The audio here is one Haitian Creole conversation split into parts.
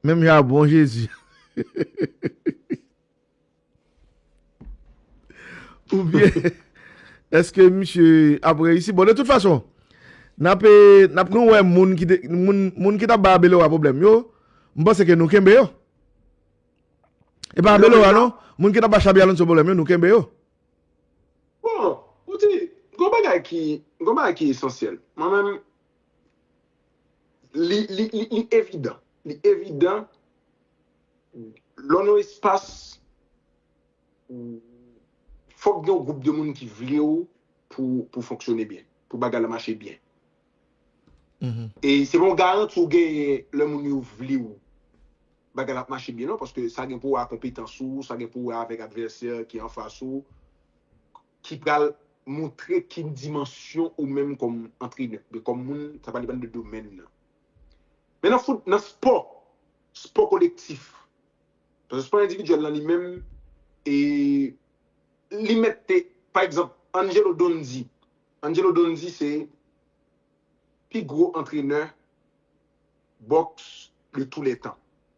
Menm jan a bon jezi. Ou byen eske misye ap reyisi bon de tout fason nap nap nou wè moun ki te moun moun ki tap bay abelora pwoblèm yo m panse ke nou kenbe yo e pa abelora non moun ki tap bay xabi alonso pwoblèm yo nou kenbe yo. Bon, ou di, gon bagay ki, gon bagay ki esansyèl. Mwen menm, Li evidan, li evidan lò nan yon espas fòk gen yon gwoup de moun ki vle w pou fonksyone byen, pou bagay la mache byen. E se pa yon garanti ou genyen lè moun yo vle w bagay la ap mache byen non paske sa gen pou wè a konpetans ou, sa gen pou wè avèk advèsè ki anfas ou. ki pral montre ki dimansyon ou menm kòm antrenè, oubyen kòm moun, sa va depann de domèn nan. Men nan fout, nan spò, spò kolektif, paske spò endividyèl lan li menm, e, li mèt te, pa egzanp, Angelo Donzi, Angelo Donzi se pi gwo antrenè bòks de tou lè tan.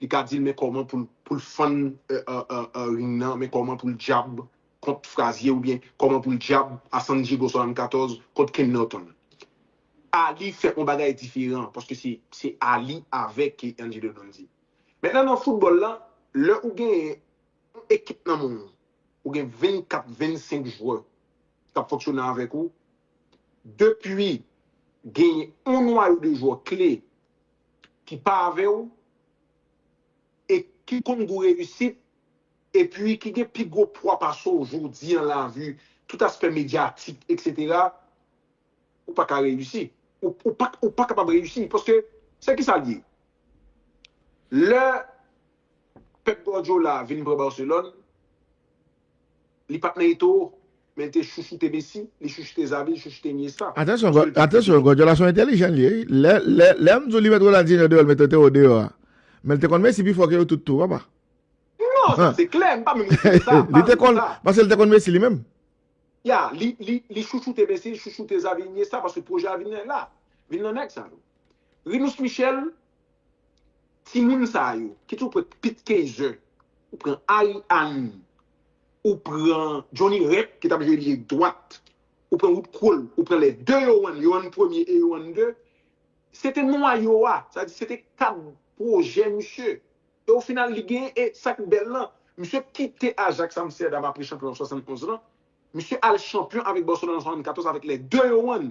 Li ka dil men kòman poul fann ring nan men kòman poul dyab kont Frazier ou byen kòman poul dyab a San Diego 74 kont Ken Norton. Ali fè on bagay diferan paske se Ali avèk Angelo Dundee. Mentnan nan foutbòl la lè ou gen on ekip nan men ou, ou gen 24, 25 jwè kap fonksyone avèk ou, depi gen on nwayo de jwè kle ki pa avè w e ki konn gou reyisit epi ki gen pi gwo pwa pase w jodi an lavi tout aspè medyatik etc ou pa ka reyisi ou pa kapab reyisi paske se ki sa l ye lè Pep Guardiola vin pran Barcelone Li pat nan eto o, men li te chouchoute Messi, li chouchoute Xavi, li chouchoute Iniesta. Atansyon, Kye l pat prete atansyon, yo? Guardiola se yon entelijan li ye wi. Lè, lè, lè m di w li met Ronaldinho deyò, l mete Teo deyò a. Men l te konn Messi pi fò ke yo tout tou, papa. Non, sa se klè, m pa menm retire sa, m pa Li te retire konn, sa. paske l te konn Messi li menm. Ya, li, li, li chouchoute Messi, li chouchoute Xavi, Iniesta, paske pwojè a vin la, vin nan nèg sa yo. Rinus Michel. Timoun sa yo kit ou pran pit keizer ou pran Ariane ou pran Johnny rep ki tap jwe lye dwat ou pran wood krol ou pran lè 2 yo an yo an premye e yo an 2 se te nwayo a sa di se te kad pwojè misye e o final li gen e sak bèl lan misye kite Ajax Amsterdam apre chanpyon an 71 lan misye al chanpyon avèk Barcelone an 74 avèk lè 2 yo an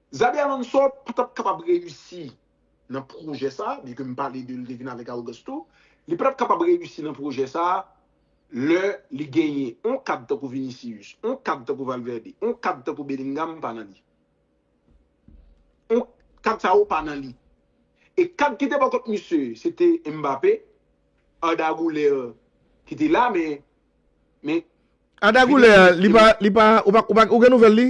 Xabi Alonso pa t ap kapab reyisi nan pwojè sa a, byen ke m pale de li te vin avèk awogans tou, li pa t ap kapab reyisi nan pwojè sa a lè li genyen on kad tankou Vinicius, on kad tankou Valverde, on kad tankou Bellingham pa nan li. On kad sa yo pa nan li. E kad ki te bò kot misye, se te Mbappé, Arda Güler ki te la men, men Arda Güler li pa, li pa, ou pa, ou gen nouvèl li?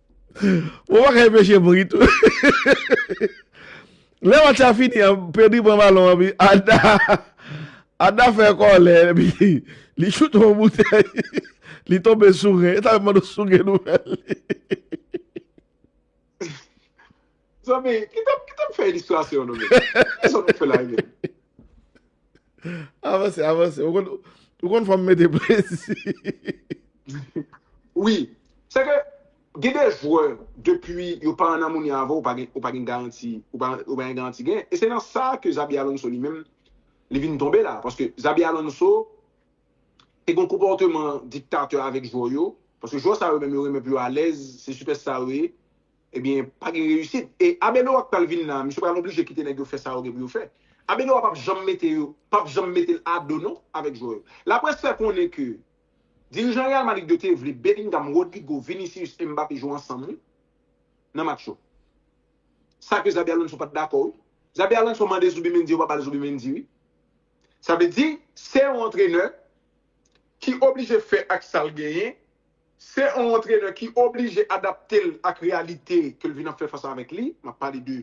Ou pa ka enpeche m ri tou. Lè match la fini an, Pedri pran balon an epi Arda Arda fè kòlè epi li choute yon boutèy li tonbe sou ren. Sa yo mande w sou ren nou fè li. Zanmi, kitem kitem fè ilistrasyon nou men. Kisa nou fè la e menm? Avanse, avanse. Ou konn ou konn fòm mete plezi. Wi, se ke gen de jwè depi yo pa an amoni avè w, ou pa gen ou pa gen garanti, ou pa ou pa gen garanti gen. E se nan sa ke Xabi Alonso li menm li vin tonbe la. Paske Xabi Alonso te gon konpòteman diktatè avèk jwè yo. Paske jwè sa yo menm yo renmen pou yo alèz, se sipèsta yo ye. Ebyen pa gen reyisit. E Arbeloa k pral vin la, misye pral oblije kite nèg yo fè sa yo gen pou yo fè. Arbeloa pap janm mete yo, pap janm mete l a do non avèk jwè yo. Laprès fè konnen ke dirijan Real Madrid yo te vle Bellingham, Rodrygo, Vinicius e Mbappé jwe ansanm wi nan match yo. Sa ke Xabi Alonso pat dakò wi. Xabi Alonso mande Zubimendi yo pa ba l Zubimendi wi. Sa vle di se yon antrenè ki oblije fè ak sa l genyen. Se yon antrenè ki oblije adapte l ak reyalite ke l vin ap fè fas avèk li, m ap pale de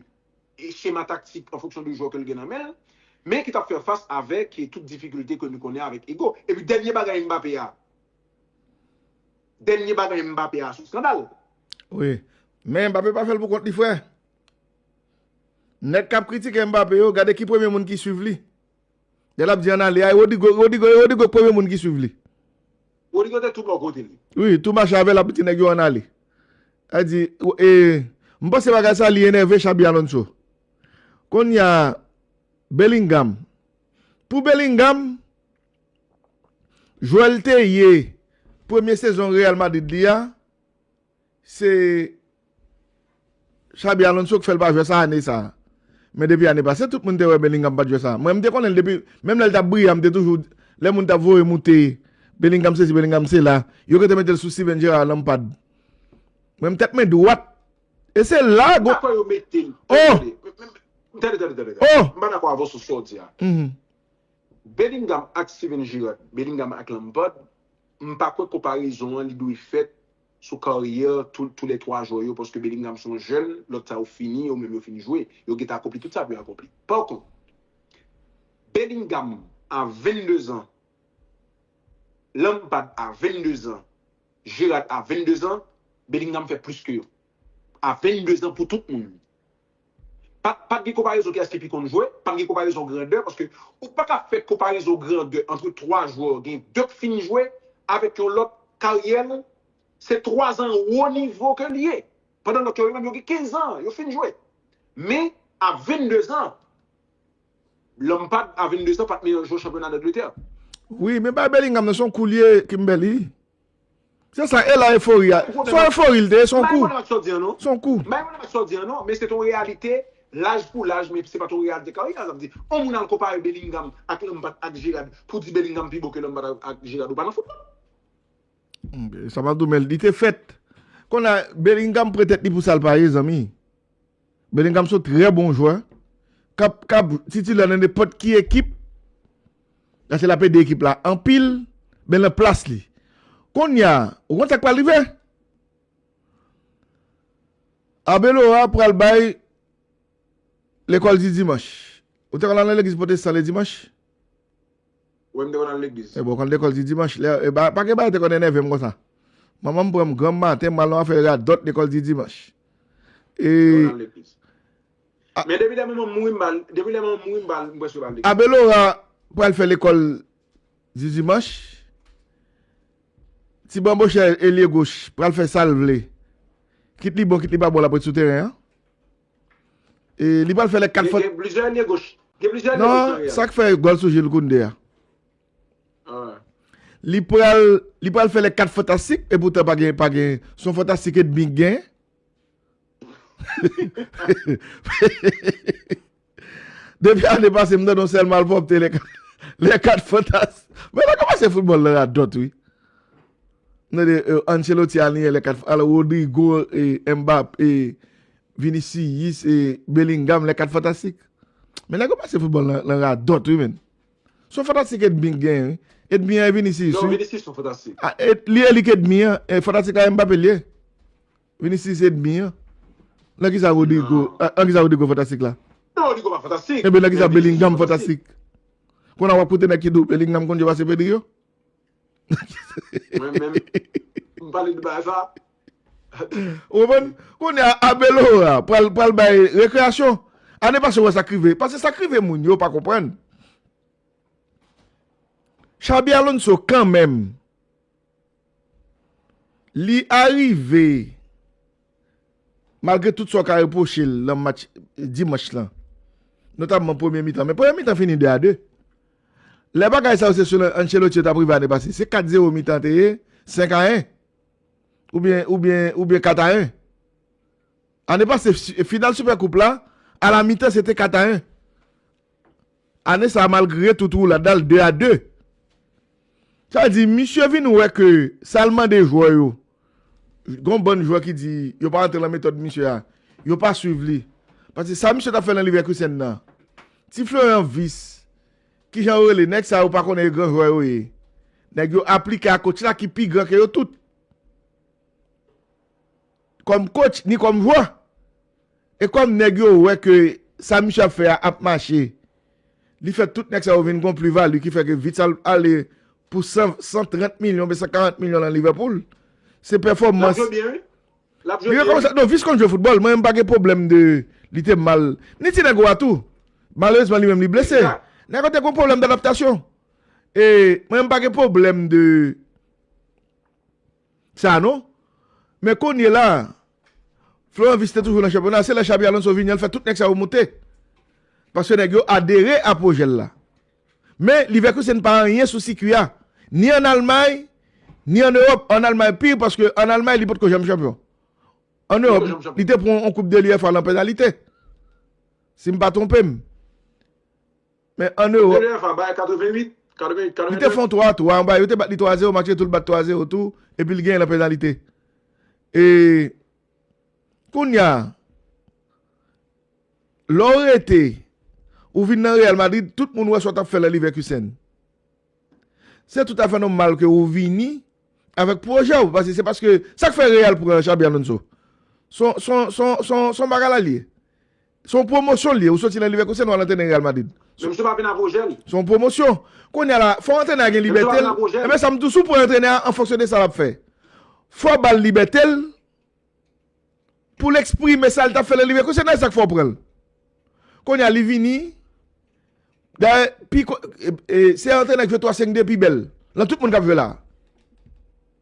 chema taktik an fonksyon de jwè ke l gen nan men l, men ki t ap fè fas avèk tout difikilte ke nou konnen avèk Hugo. Epi dènye bagay Mbappé a, dènye bagay Mbappé a son skandal. Wi, men Mbappé pa fè l pou kont li frè. Nèg k ap kritike Mbappé yo, gade ki premye moun ki swiv li. Lè lap di an ale a e Rodrigo Rodrigo e Rodrigo k premye moun ki swiv li. Rodrigo te tou bò kote li. Wi tou mache avèl ap di nèg yo an ale. Lap di e m panse bagay sa li enève Xabi Alonso. Konnya Bellingham pou Bellingham jwè l te ye premye sezon Real Madrid li a. Se Xabi Alonso k fè l pa jwè sa ane sa. Men depi ane pase tout moun te wè Bellingham pat jwè sa. Mwen m te konnen l depi menm lè l tap briyan m te toujou lè moun tap voye moute Bellingham sesi Bellingham sela yo rete mete l sou Steven Gerrard Lampard. Mwen m tèt mwen dwat e se la gwo Apa yo mete l. Oh! Tande tande tande tande. Oh! M pa dakò avè w sou sa w di a. Bellingham ak Steven Gerrard Bellingham ak Lampard M pa kwè konparezon an li dwe fèt sou karyè tou tou lè 3 jwè yo paske Bellingham se yon jèn, lòt sa yo fini, yo menm yo fin jwe, yo gentan akonpli tout sa pou yo akonpli. Pa kont, Bellingham a 22 zan, Lampard a 22 zan, Gerrard a 22 zan, Bellingham fè plis ke yo. A 22 zan pou tout moun. Pat gen konparezon kiyès ki pi konn jwe, pat gen konparezon grandè paske ou paka fè konparezon grandè antre 3 jwè gen 2 k fin jwe avèk yon lòt karyè l se 3 zan wo nivo ke l ye pandan lòt yo yo menm yo gen 15 zan yo fin jwe men a 22 zan Lampard a 22 zan pat meyè jwè chanpyona Dangletè. Wi men bay Bellingham nan son koulye Kimberly. Se sa e la efori a. Son efori li te ye son kou. Son kou. M pa rekonèt mak sa w di an non, men se t on reyalite laj pou laj men se pa t on reyalite karyè a sa m di. On moun al konpare Bellingham ak Lampard ak Gerrard pou di Bellingham pi bon ke Lampard ak Gerrard ou pa nan foutbòl. Sa m ap di w men li te fèt. Kon a Bellingham pre tèt li pou sa l pa ye zanmi. Bellingham son trè bon jwè kap ka titilè nan nenpòt ki ekip paske lap ede ekip la anpil men nan plas li konnya ou konn sak pral rive Arbeloa pral bay lekòl di dimanch ou te konn al nan legliz pote san le dimanch? Wè m te konn al legliz. Ebyen w konn lekòl di dimanch lè e ba pagen bagay te konn enève m konsa. Manman m pran m granm maten m pral nan afè radòt lekòl di dimanch. E Te konn al legliz. Men depi lè manman m mouri m pa al depi lè manman m mouri m pa al m prèske pa al legliz. Abelora pral fè lekòl di dimanch. Ti banbochè elye goch pral fè sa l vle. Kit li bon kit li pa bon l ap ret sou teren an. E li pral fè lè 4 fòt. Gen plizyè alye goch. Gen plizyè alye goch nan Real. Non, sa k fè gòl sou Jules Koundé a. Li pral, li pral fè lè 4 fantastik e poutan pa gen, pa gen. Son fantastik edmi k gen. Depi ane pase m tande yon sèl malpwòpte lè 4, lè 4 fantas. Men nan kòmanse foutbòl lan radòt wi. M tande Ancelotti al nye lè 4, al Rodrygo e Mbappé Vinicius e Bellingham lè 4 fantastik. Men nèg yo pase foutbòl nan radòt wi menn. Son fantastik edmi k genyen wi. Edmi an e Vinicius wi. Non Vinicius son fantastik. Ah li e li k edmi an. Fantastik la e Mbappé li ye. Vinicius edmi an. Nan kisa Rodrygo, nan kisa Rodrygo fantastik la? Non Rodrygo pa fantastik. Enben nan kisa Bellingham fantastik? Konn a wap koute nèg ki di w Bellingham konn jwe pase Pedri yo? Mwen menm, m pale de bagay sa. Ou konprann? Kounye a Abelora pral bay rekreyasyon. Ane pase ou wè sa k rive. Pase sa k rive moun yo pa konprann. Xabi Alonso kanmenm li arive. Malgre tout sa w ka repwoche l nan match dimanch lan, notamman premye mitan, men premye mitan fini 2 a 2. Lè bagay sa yo se sou Ancelotti yo t ap rive ane pase, se 4 zero mitan an te ye, 5 a 1, oubyen 4 a 1. Ane pase final Super Coupe la, a la mitan se te 4 a 1. Ane sa malgre tout roulada l 2 a 2. Sa vle di misye vin wè ke sa l mande jwè yo, gen yon bann jwè ki di yo pa rantre lan metòd misye a, yo pa swiv li. Paske sa misye t ap fè lan Leverkusen nan, ti Florian Wirtz, kijan yo rele nèg sa yo pa konnen e gran jwè yo ye. Nèg yo aplike a kotch la ki pi gran ke yo tout. Kòm coach ni kòm jwè. E kòm nèg yo wè ke sa misye ap fè a ap mache, li fè tout nèg sa yo vin gon pli vali ki fè ke Vital ale pou 130 milyon oubyen 140 milyon lan Liverpool. Se pèfòmans. Lap jwe byen wi. Lap jwe byen wi. Non Vic konn jwe foutbòl. Mwen menm pa gen pwoblèm de li te mal. Ni ti nèg ou a tou. Malerezman li menm li blese. Nèg yo te gon pwoblèm d'adaptasyon. E mwen menm pa gen pwoblèm de. sa non men kounye la Florent Vice te toujou nan chanpyona se lè Xabi Alonso vini an l fè tout nèg sa yo moute paske nèg yo adere a pwojè l la men Leverkusen pa anyen sou sikui a ni an Almay ni an Ewòp an Almay pi paske an Almay li potko janm chanpyon an Ewòp li te pran yon koup de l UEFA lan penalite si m pa twonpe m. Men an Ewòp, Neuer va bay 88, 88, 89. Li te fè yon 3 tou anba, yo te bat li 3 a 0, match retou l bat 3 a 0 tou, epi l genyen nan penalite. E kounya lè w rete, ou vin nan Real Madrid, tout moun wè sa w t ap fè nan Leverkusen. Se tout afè nòmal ke ou vini avèk pwojè w, paske se paske sa k fè Real pran Xabi Alonso. S on bagay la li ye. Se yon pwomosyon li ye. Ou soti nan Leverkusen ou al antrene Real Madrid. Men misye pa vin a pwojè li. Se yon pwomosyon. Kounye a la, fò antrenè a gen Men misye pa libète vin l. a pwojè Enben li. sa m di w, si w pran antrenè a an fonksyon de sa l ap fè. Fò w ba l libète l pou l eksprime sa l t ap fè nan Leverkusen nan. E sa k fè w pran l. Kounye a li vini Dayè, pi ko, e, e, se antrenè ki jwe 3-5-2 pi bèl nan tout moun k ap jwe la a.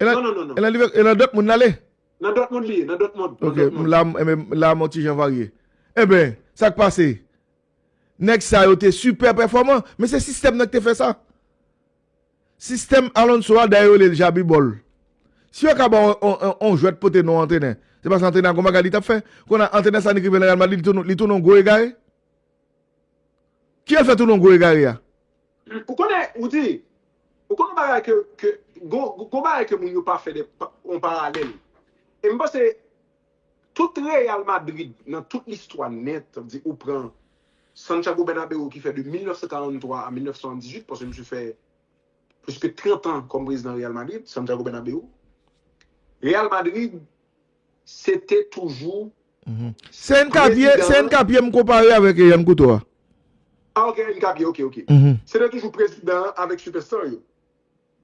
E nan Dòtmoun l ale? Nan Dòtmoun li ye, nan Dòtmoun. Ok, la m yon ti jan varye. Enben, sa k pase? Nèg sa yo te sipè pèfòman, men se sistèm nan ki te fè sa. Sistèm Alonso a, dayè yo rele l jabibòl. Si yo ka ba w yon jwèt pote non antrenè, se paske antrenè a gen yon bagay li t ap fè. Kounye a, antrenè sa ni ki vin nan Real Madrid, li tounen yon gwo egare. Kiyès fè tou non gwo egare a? Ou konnen, ou di, ou konnen yon bagay ke, ke, gon, gon bagay ke moun yo pa fè de, yon paralèl. E m panse, tout Real Madrid nan tout listwa nèt, sa vle di ou pran Santiago Bernabeu ki fè de 1943 a 1978, paske misye fè plis ke 30 an kòm prezidan Real Madrid, Santiago Bernabeu. Real Madrid Se te toujou prezidan. Se NK Pye m konpare avèk Yan Kouto a. Ah ok NK Pye ok ok. Se te toujou prezidan an avèk sipèsta yo.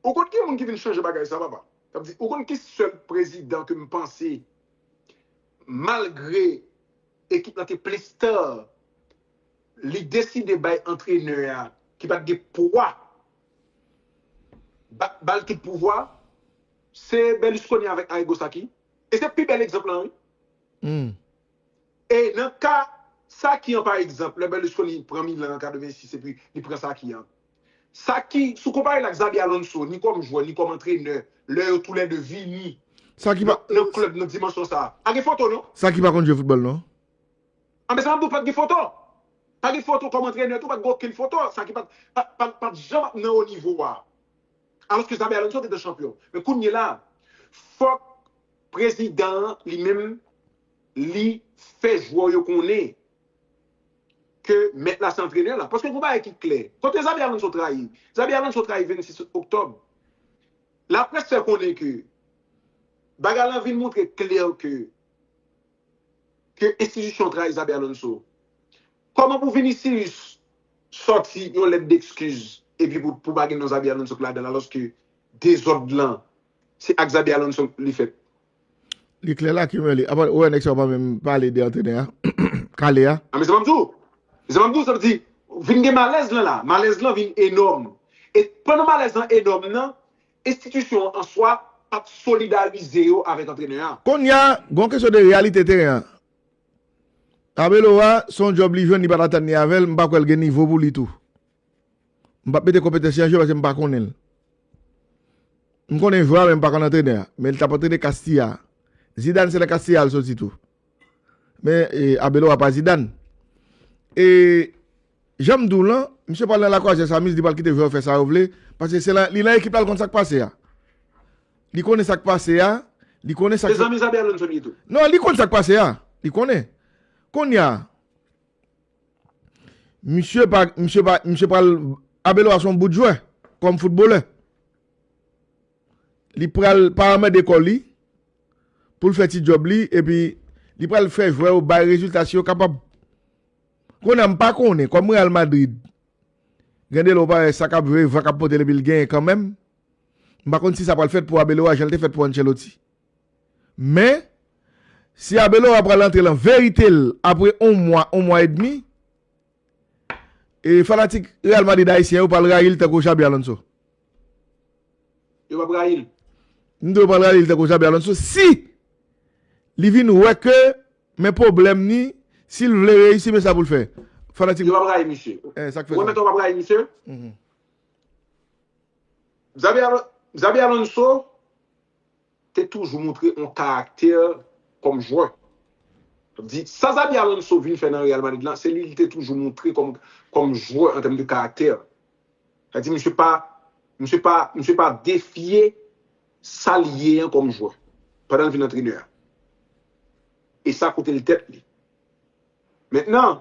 Ou konn ki moun ki vin chanje bagay sa papa? Sa vle di ou konn ki sèl prezidan ke m panse malgre ekip lan te plis sta li deside bay antrenè a ki pat gen pwa ba l tout pouvwa? Se Berlusconi avèk Arrigo sa ki e se pi bèl egzanp lan wi. Humm. E nan ka sa ki an pa egzanp lè Berlusconi pran Milan an 86 epi li pran sa ki an. Sa ki sou konpare l ak Xabi Alonso ni kòm jwè ni kòm antrenè lè yo tou lè 2 vini Sa ki pa. nan klèb nan dimansyon sa. Pa gen foto non. Sa ki pa konn jwe foutbòl non. Anben sa map di w pat gen foto. Pa gen foto kòm antrenè tou pat gen okenn foto sa ki pat pat janm ap nan wo nivo a. Alòske Xabi Alonso te de chanpyon. Men kounyela a, fòk prezidan an li menm li fè jwè w yo konnen ke mèt la se antrenè la. Paske gon bagay ki klè. Kote Xabi Alonso trayi? Xabi Alonso trayi 26 oktòb. Laprès fè konnen ke bagay la vin montre klè ke ke enstitisyon trayi Xabi Alonso? Kòman pou Vinicius sòti yon lèt dekskiz epi pou pou pa gen non Xabi Alonso k ladan l alòske dezòd lan se ak Xabi Alonso li fèt? Li klè la ki mwen li. Apa wè nèg sa yo pa menm pale de antrenè a? Kale a? A men sa m ap di w. Men sa m ap di w, sa vle di vin gen malèz lan la. Malèz lan vin enòm. E pandan malèz lan enòm nan, Enstitisyon an swa pa t solidarize yo avèk antrenè a. Konnya, gon kesyon de reyalite teren an. Arbeloa, se yon djòb li jwenn, li pa t atann li avè l, m pa kwè l gen nivo pou li tou. M pa p mete konpetans li an je paske m pa konnen l. M konnen jwè a men m pa konn antrenè a. Men li t ap antrene Castilla. Zidane se nan Castilla l soti tou. Men Abeloa pa Zidane. E jan m di w lan, misye pral nan Lakwaze San Mis, li pral kite jwè yo fè sa yo vle, paske se li nan ekip la, li konn sa k pase a. Li konnen sa k pase a, li konnen sa k Se zanmi Xabi Alonso li ye tou. Non, li konn sa k pase a, li konnen. Kounye a, misye pa, misye pa, misye pral, Abeloa se yon bout jwè, kòm foutbolè. Li pral pa anmède kò li pou l fè ti djòb li epi li pral fè jwè yo bay rezilta si yo kapab. Kounye a m pa konnen, kòm Real Madrid gen de lè ou pa wè sa k ap jwe, van k ap pote l epi l genyen kanmenm, m pa konn si sa pral fèt pou Abeloa jan l te fèt pou Ancelotti. Men, si Abeloa pral antre lan verite l apre on mwa, on mwa edmi, E fanatik Real Madrid ayisyen yo pral rayi l tankou Xabi Alonso. Yo pap rayi l? M di yo pral rayi l tankou Xabi Alonso si li vin wè ke men pwoblèm ni si l vle reyisi men sa pou l fè. Fanatik. Yo pap rayi misye. E sa k fè sa? Ou remèt ou pap rayi misye? Xabi Alonso. te toujou montre yon karaktè kòm jwè. Sa vle di, sa Xabi Alonso vin fè nan Real Madrid la, se li li te toujou montre kòm jwè an tèm de karaktè. Sa vle di misye pa, misye pa, misye pa defye sa li ye an kòm jwè pandan li vin antrenè a. E sa koute li tèt li. Mentnan,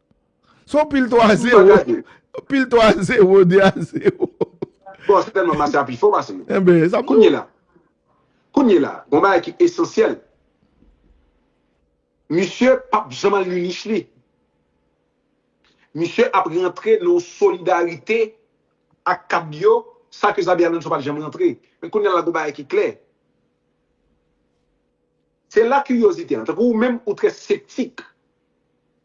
Son pil 3 a 0. Pil 3 a 0, 2 a 0. Bon, se tèlman Massa pi fò pase nou. Enben, sa m di w. Kounye la, kounye la, gon bagay ki esansyèl. Misye p ap janm al li nich li. Misye ap rantre nan yon solidarite ak kad yo, sa ke Xabi Alonso pa t janm rantre. Men kounye la gon bagay ki klè. Se la kiryozite an. Tankou ou menm, ou trè septik.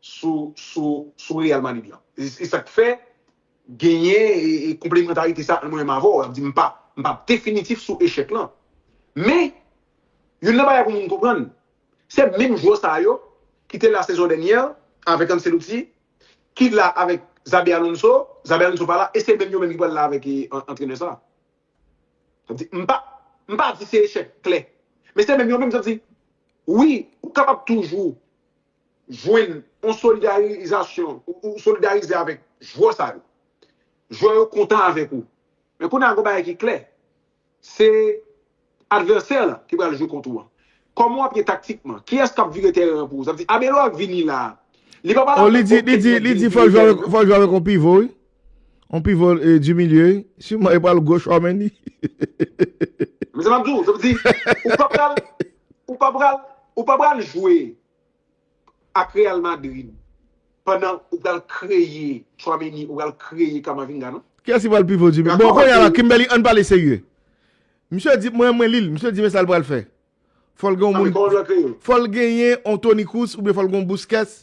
sou sou sou Real Madrid lan. Se sak fè genyen konplemantarite sa ant mwen menm avè w. Sa vle di m pa m pa definitif sou echèk lan. Men, youn nan bagay pou moun konprann, se menm jwè sa yo ki te la sezon dènyè avèk Ancelotti, ki la avèk Xabi Alonso, Xabi Alonso pa la e se menm yo menm ki pral la avèk antrenè sa. Sa vle di m pa m pa di se echèk klè. Men se menm yo menm sa vle di wi ou kapab toujou jwenn yon solidarizasyon, ou solidarize avèk jwè sa yo. Jwè yo kontan avèk ou. Men kounye a gen yon bagay ki klè, se advèsè lan ki pral jwe kont ou an. Kòman w ap ye taktikman? Kiyès k ap vire tèren an pou ou? Sa vle di Arbeloa vini la a, li pa pral ap gen okenn nèg vini vire tèren an. Li di fò l jwe avèk yon pivo wi. On pivot du milieu, sûrement e pral goch wa Mendy. Men sa map di w, sa vle di ou pa pral ou pa pral ou pa pral jwe ak Real Madrid pandan ou pral kreye Tchouaméni, ou pral kreye Camavinga non. Kiyès ki pral pivot du milieu? Bon kounye a la Kimberly ann pale serye. Misye di mwen mwen li l, misye di men sa l pral fè. Fò l gen yon moun, fò l genyen yon Toni Kroos oubyen fò l gen yon Busquets.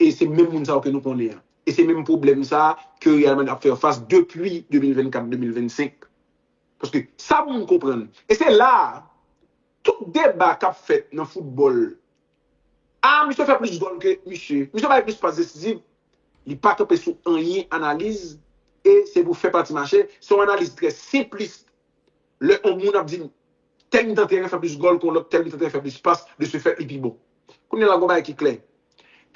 E se menm moun sa yo ke nou konnen an. E se menm pwoblèm sa a ke Real Madrid ap fè fas depi 2024, 2025. Paske sa moun konprann, e se la a, tout deba k ap fèt nan foutbòl, A, misye fè plis gòl ke misye, misye bay plis pas desizif, li pa kanpe sou anyen analiz, e se pou fè pati mache, se yon analiz trè senplist. Lè yon moun ap di m, Tè mitan teren fè plis gòl ke yon lòt tè mitan teren fè plis pas, de se fèt li pi bon. Kounye la gon bagay ki klè,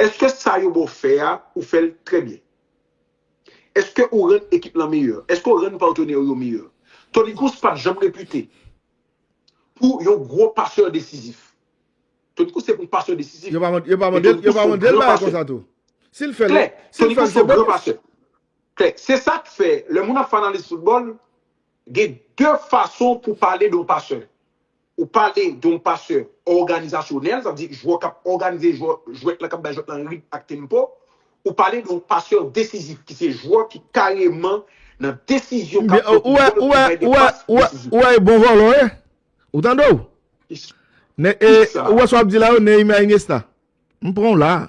èske sa yo ba w fè a ou fè l trè byen? Èske ou rann ekip lan meyè? Èske ou rann patenè w yo meyè? Toni Kroos pa t janm repite pou yon gwo pasè desizif. Toni Kroos se yon pasè desizif. Yo pa mande l bagay konsa tou. Si l fè l, se bonus. Klè, se sa k fè lè moun ap fè analiz foutbòl, Gen de fason pou pale de yon pasè. Ou pale de yon pasè òganizasyonèl, sa vle di jwè k ap òganize jwèt la, k ap bay jwèt lan ritm ak tempo. Ou pale de yon pasè desizif ki se jwè ki kareman nan desizyon k ap fè pou gòl, ki bay de pas desizif. Ou wè e bon vòlò ye? Ou tande w? Ou wè sa w ap di la yo Neymar Ingesta? M pran w la a.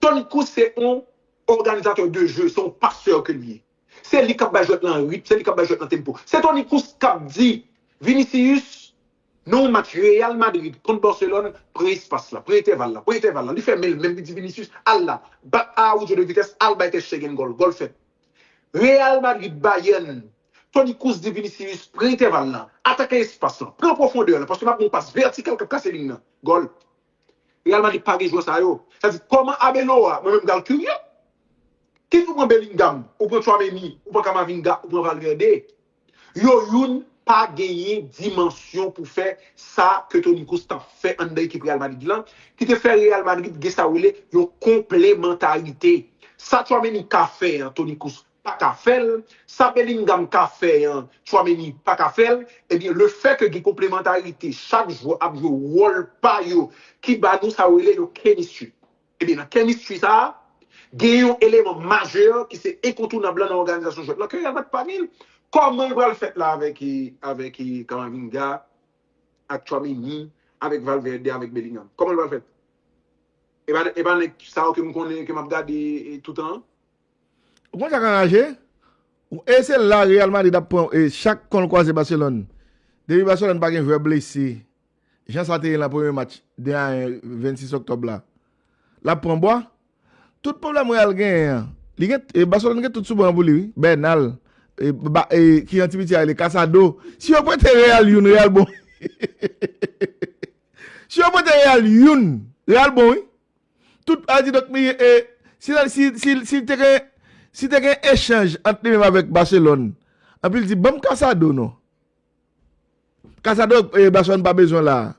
Tony Cruz se yon organisateur de jeu, se yon passeur ke li ye. Se li kap bay jwèt lan ritm, se li kap bay jwèt lan tempo. Se Tony Cruz kap di Vinicius nan yon match Real Madrid kont Barcelone, pran espas la, pran entèval la, pran entèval la. Li fèmen l menm, li di Vinicius, al la, bat Araujo de vitès, al bay tèt Shtegen gòl, gòl fèt. Real Madrid, Bayern, Tony Cruz di Vinicius, pran entèval la, atake espas la, pran pwofondè la, paske m ap gen yon pas vètikal kap kase liy nan, gòl. Real Madrid pa gen jwè sa yo. Sa di koman Arbeloa mwen menm pral kirye. Kit ou pran Bellingham, ou pran Tchouaméni, ou pran Camavinga, ou pran Valverde. Yo youn pa genyen dimansyon pou fè sa ke Toni Kroos tap fè anndan ekip Real Madrid lan, ki te fè Real Madrid gen sa ou rele yon konplemantarite. Sa Tchouaméni ka fè an Toni Kroos paka fèl, sa Bellingham ka fè an Tchouaméni paka fèl, ebyen le fè ke gen konplemantarite chak jwè ap jwe wòl pa yo ki ba nou sa yo rele yon chemistry. Ebyen nan chemistry sa a gen yon eleman majè ki se enkontounab lan nan òganizasyon jwèt lan ke Real Madrid pa genl, kòman l pral fèt la avèk avèk Camavinga, ak Tchouaméni, avèk Valverde, avèk Bellingham? Kòman l pral fèt? Epa epa nèg sa yo ke m konnen ke map gade toutan an? Ou konn sak anraje ou e se la Real Madrid ap pran e chak konl kwaze Barcelone depi Barcelone pa gen jwè blese jan sa te ye nan premye match 2 a 1 26 Octobre la lap pran bwa tout pwoblèm Real genyen an li gen e Barcelone gen tout sou ban an pou li wi Bernal e ba e ki yon ti piti a rele Casado si yo prete Real youn Real bon si yo prete Real youn Real bon wi. Tout a di donk mi e si la si si si te gen si te gen echanj ant li menm avèk Barcelone epi l di banm Casado non. Casado e Barcelone pa bezwen la.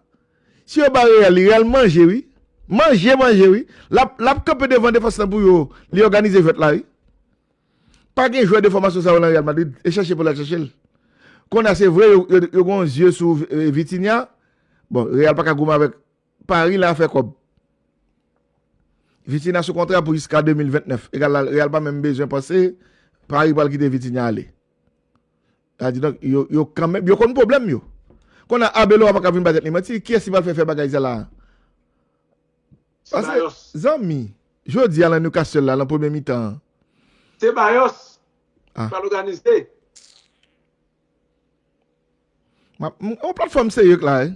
Si yo ba Real li Real manje wi. Manje manje wi. Lap lap kanpe devan defans lan pou yo li òganize jwèt la wi. Pa gen jwè de fòmasyon sa yo lan Real Madrid e chèche pou l al chèche l. Kounye a se vre yo yo yo gen yon zye sou Vitinha bon Real paka goumen avèk Paris la fè kòb. Vitinha sou kontra pou jiska 2029. Egal la Real pa menm bezwen panse Paris pral kite Vitinha ale. Sa di donk yo kanmenm, yo konn pwoblèm yo. Konnya Arbeloa pa ka vin bay tèt li manti, kiyès li pral fè fè bagay sa la a? Pase zanmi, jodi a lan Newcastle la lan premye mitan an. Ceballos pral oganize. On platfòm serye k la e.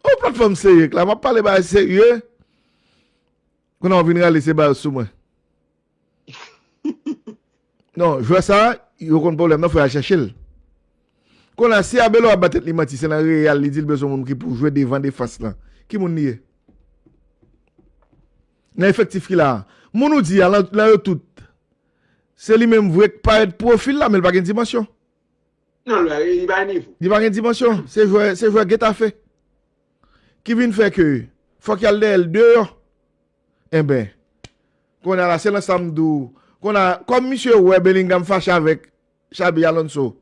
On platfòm serye k la. M ap pale ba serye. Kou nan w vin rale se ba yo sou mwen. Non jwè sa yo konn pwoblèm nan fò yal chèche l. Konn a si Arbeloa ap ba tèt li manti se nan Real li di l bezwen moun ki pou jwe devan defans lan. Ki moun li ye? Nan efektif ki la a. Moun ou di a lan yo tout se li menm vre k parèt pwofil la men l pa gen dimansyon. Non li pa gen nivo. Li pa gen dimansyon. Se jwè se jwè Getafe ki vin fè ke fòk yal dèyè l deyò. Enben, kounye a la, se lan sa m di w, kounye a, kòm misye wè Bellingham fache avèk Xabi Alonso,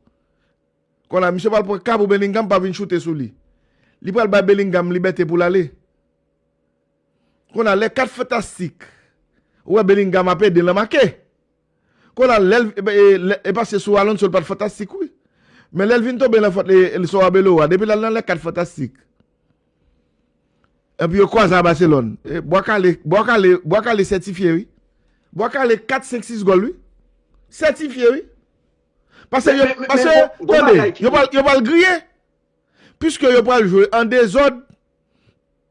kounye a, misye pral pran ka pou Bellingham pa vin choute sou li. Li pral bay Bellingham libète pou l ale. Kounye a, lè kat fantastik wè Bellingham ap ede l an make, Konal lèl e pase sou Alonso l pat fantastik wi men lèl vin tonbe nan fòt li sou Arbeloa depi lal nan lè 4 fantastik epi yo kwaze a Barcelone bwa kale bwa kale bwa kale sètifye wi bwa kale 4 5 6 gòl wi sètifye wi pase yo pase tande yo pral griye piske yo pral jwe an dezòd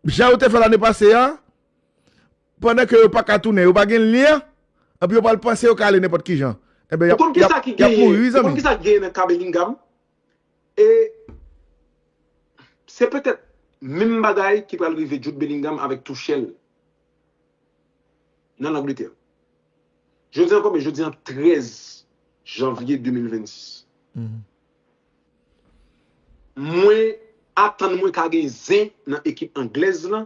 jan yo te fè lane pase a Pandan ke yo pa ka tounen, yo pa gen lyen, anpi yo pral panse yo ka ale nenpòt ki jan. Enben, Ou konn ki sa ki genyen, ou konn ki sa ki genyen nan ka Bellingham? E se petèt menm bagay ki pral rive Jude Bellingham avèk Tuchel nan Langletè. Jodi an konbyen? Jodi an 13 janvye 2026. Mwen atann mwen ka gen zen nan ekip anglèz lan.